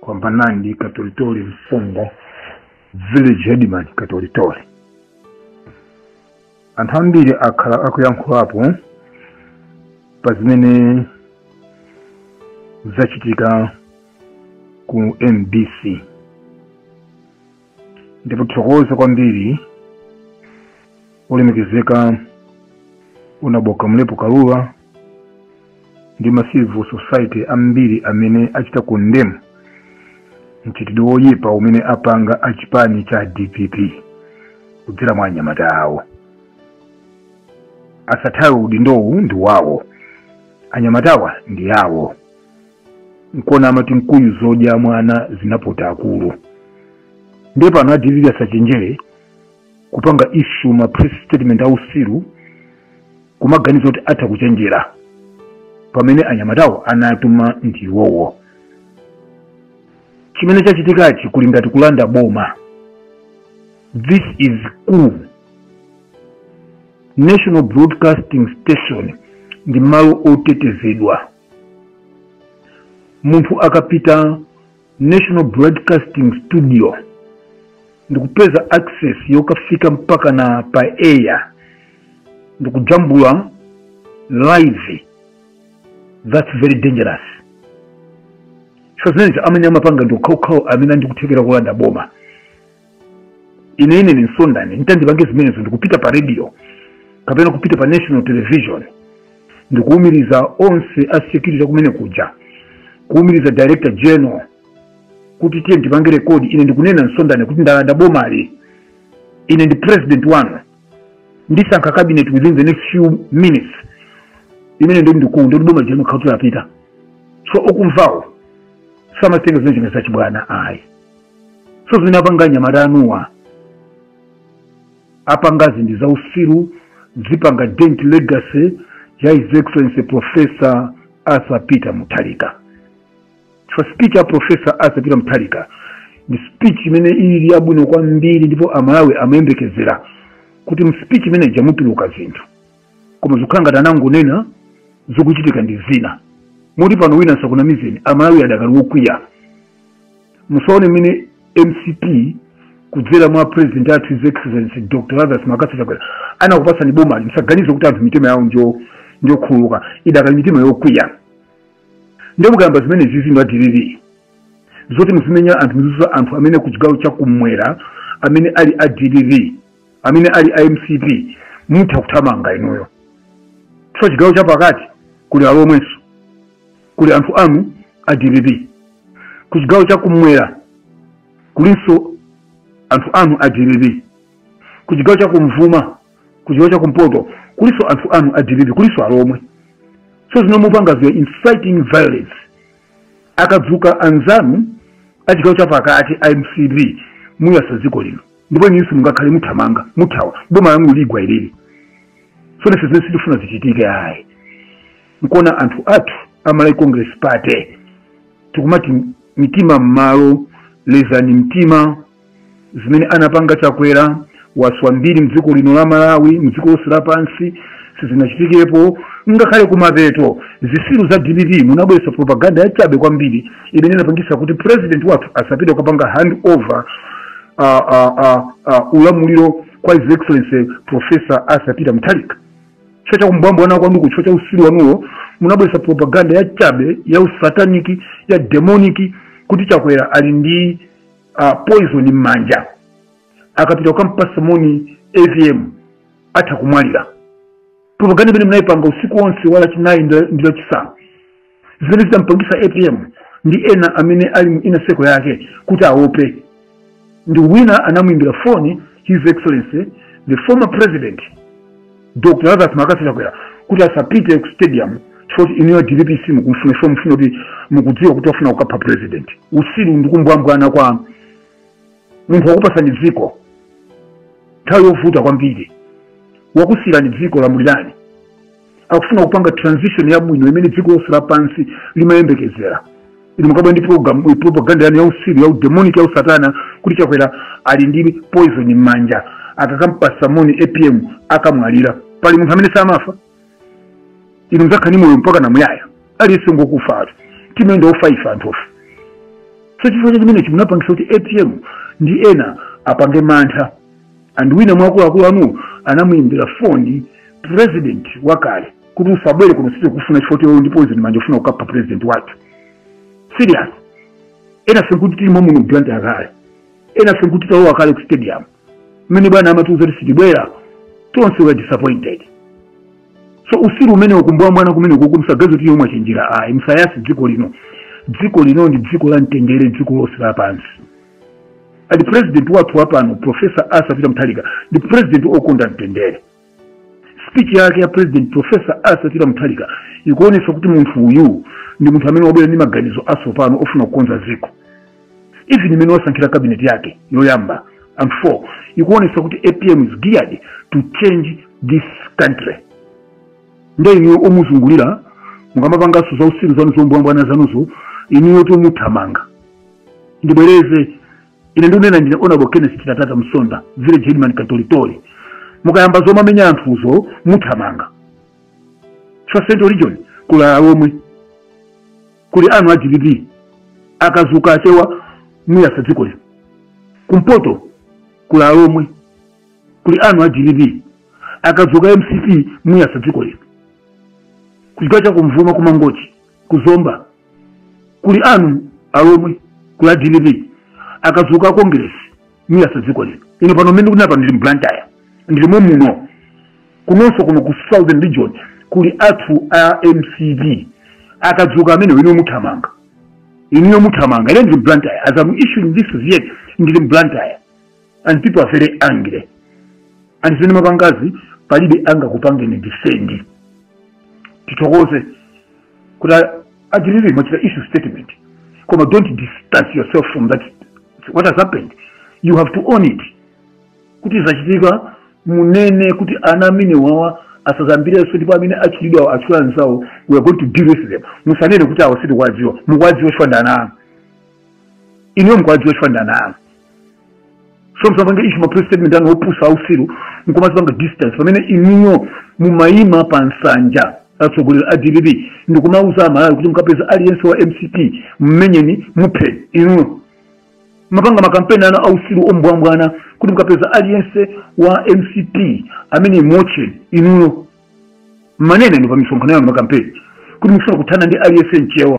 kwambanandi katolitoli mfumu village headman katolitoli anthu ambiri akhala akuyankhulapo pa zimene zachitika ku mbc ndithokoze kwambiri olemekezeka unaboka mlepo kaluwa ndi ma civil society ambiri amene achita condemn mchitidwe woyipa umene apanga achipani cha dpp kudzera mwa anyamata awo asathawe udindowu ndi wawo anyamatawa ndi awo nkona amati mkuyu zodya mwana zinapota akulu ndiye pano a dpp asachenjere kupanga issue ma press statement ausiru kumaganiza kuti atha kuchenjera pamene anyamatawo anatuma ndi iwowo chimene chachitikachi kuli ngati kulanda boma this is coup national broadcasting station ndi malo otetezedwa munthu akapita national broadcasting studio ndikupeza access yokafika mpakana pa air ndikujambula live that's very dangerous chifukwa zimenezi amene amapanga ndi okhaokhawo amene ali ndi kuthekera kulanda boma ine ine ndi msonda ine nditandipange zimenezo ndikupita pa radio kapena kupita pa national television ndikuwumiriza onse a security kumenekuja kuwumiriza director general kuti tiye ndipange rekodi ine ndikunena msonda ine kuti ndalanda bomali ine ndi president wanu ndisankha cabinet within the next few minutes imene ndi ndikulu ndi boma jenu khautira apita so okumvawo samazitenga zimene chimene zachibwana ayi so zimene apanga anyamata anuwa apangazi ndi zausiru zipanga dent legacy ya his excellency professor arthur peter mutharika so speech ya professor arthur peter mutharika ndi speech imene ili yabwino kwambiri ndipo amalawi amayembekezera kuti mspeech imene ija mutuluka zinthu koma zikukhala ngati anangonena zikuchitika ndi zina moti pano wina asakunamizeni amalawi adakali wokwiya musaone mmene mcp kudzera mwa president athu his excellency dr lazarus mccarthy chakwera anakupatsani bomali musaganize kuti anthu mitima yawo njokhululuka idakali mitima yokwiya ndiye mukayamba zimenezizi inu a dpp zoti muzimenya anthu muzizuza anthu amene ku chigawo cha kumwera amene ali a dpp amene ali a mcp mutha kuthamanga inuyo chifukwa chigawo chapakati kuli alomwenso kuli anthu anu a dpp ku chigawo chakumwera kulinso anthu anu a dpp ku chigawo chakumvuma ku chigawo chakumpoto kulinso anthu anu a dpp kulinso alomwe so zino mupangaziyo inciting violence akadzuka anzanu a chigawo chapakati a mcp muyasa dziko lino ndipo inunso simungakhale muthamanga muthawa boma lanu ligwa ilili so ife zimene sitifuna zichitike ayi nkuona anthu athu a malawi congress party tikumati mitima m'malo lezani mtima zimene anapanga chakwera waswa mbiri mdziko lino la malawi mdziko lonse lapansi sizinachitikepo ngakhale kumapeto zisiru za dpp munabweretsa propaganda yachabe kwambiri imene inapangisa kuti president wathu asapite kukapanga hand over uh, uh, uh, uh, ulamuliro kwa his excellency professor arthur peter mutharika chifukwa cha kumbwambwana kwanuko chifukwa cha usilu wanuwo munabweretsa propaganda ya chabe ya usataniki ya demoniki kuti chakwera ali ndi uh, poison m'manja akapita kukampasa moni apm atha kumwalira propaganda imene munayipanga usiku wonse wa lachinayi ndi lachisanu zimene zidampangisa apm ndi ena amene ali mu inner circle yake kuti aope ndi wina anamuimbira foni his excellency the former president dr lazarus mccarthy chakwera kuti asapite ku stadium chifoti inuyo dpp simukumfuna ife mufuna kuti mukudziwa kuti afuna kukapha president usiru ndi kumbwambwana kwa munthu wakupasani dziko nthawi yovuta kwambiri wakusiyirani dziko lamulirani akufuna kupanga transition yabwino imene dziko lonse lapansi limayembekezera inu mukabwera ndi propaganda yanu yausiru yaudemonic yausatana kuti chakwera ali ndi poison m'manja akakampasa moni apm akamwalira pali munthu amene samafa inu muzakhala ndi moyo mpaka na muyaya aliyense ngokufa timene ndi ofa ife anthufe so chifukwa cha chimenechi munapangisa kuti apm ndi ena apange mantha and wina mwa akuluakulu anu anamuyimbira foni president wakale kuti usabwere kuno sitikufuna chifukwa choti uli ndi poison m'manja ufuna kukapha president wathu serious ena nkuti tili muno blantyre kale ena nkuti talowa kale ku stadium mmene bwana amatiuza kuti sitibwera tonse were disappointed so usiru umene kumbwambwana kumeneku musaganize kuti mwachenjera ayi musayase dziko lino dziko lino ndi dziko la mtendere dziko lonse lapansi ali president wathu wapano professor arthur peter mutharika ndi president okonda mtendere speech yake ya president professor arthur peter mutharika ikuonesa kuti munthu uyu ndi munthu amene wabwera ndi maganizo asopano ofuna kukonza ziko even mmene wasankhira kabineti yake yoyamba and four ikuonesa kuti apm is geared to change this country nde inuyo omuzungulira mukamapanganso za usiru zanu zombwambwana zanuzo inuyo muthamanga ndibwereze ine ndikunena ndine honorable kenneth chitatata msonda village headman katolitoli mukayamba zomamenya anthuzo muthamanga chifukwa central region kuli alomwe kuli anthu a dpp akadzuka achewa muyatsa dziko lino kumpoto kuli alomwe kuli anthu a dpp akadzuka mcp muyatsa dziko lino kuchigawo cha kumvuma ku mangochi ku zomba kuli anthu alomwe kuli a dpp akadzuka akongeresi muyatsa dziko lino ine pano mmene ndikunena apa ndili mblantyre ndilimo muno kunonso kuno ku southern region kuli anthu a mcp akadzuka amenewo inuyo muthamanga inuyo muthamanga ine ndili mblantyre as am issuing this yet ndili mblantyre and people are very angry and zimene mwapangazi palibe angakupangeni defend tithokoze kuti a chilili mwachita issue statement koma don't distance yourself from that what has happened you have to own it kuti zachitika munene kuti ana amenewawa asadzayambirenso ndipo amene achitira anzawo we are going to deal with them musanene kuti awo sitikuwadziwa mukuwadziwa chifukwa ndi ana anu inuyo mukuwadziwa chifukwa ndi ana anu so musapange issue ma press statement anu opusa ausiru nkumadzipanga distance pamene inuyo mumayima pa nsanja atsogoleri a dpp ndikumauza amalawi kuti mukapeza aliyense wa mcp mmenyeni mumuphe inuyo mmapanga makampeni ana ausiru ombwambwana kuti mukapeza aliyense wa mcp ameneyo mumotche inuyo mmanena ndinu pa misonkhano yanu makampeni kuti mukufuna kuthana ndi aliyense mchewa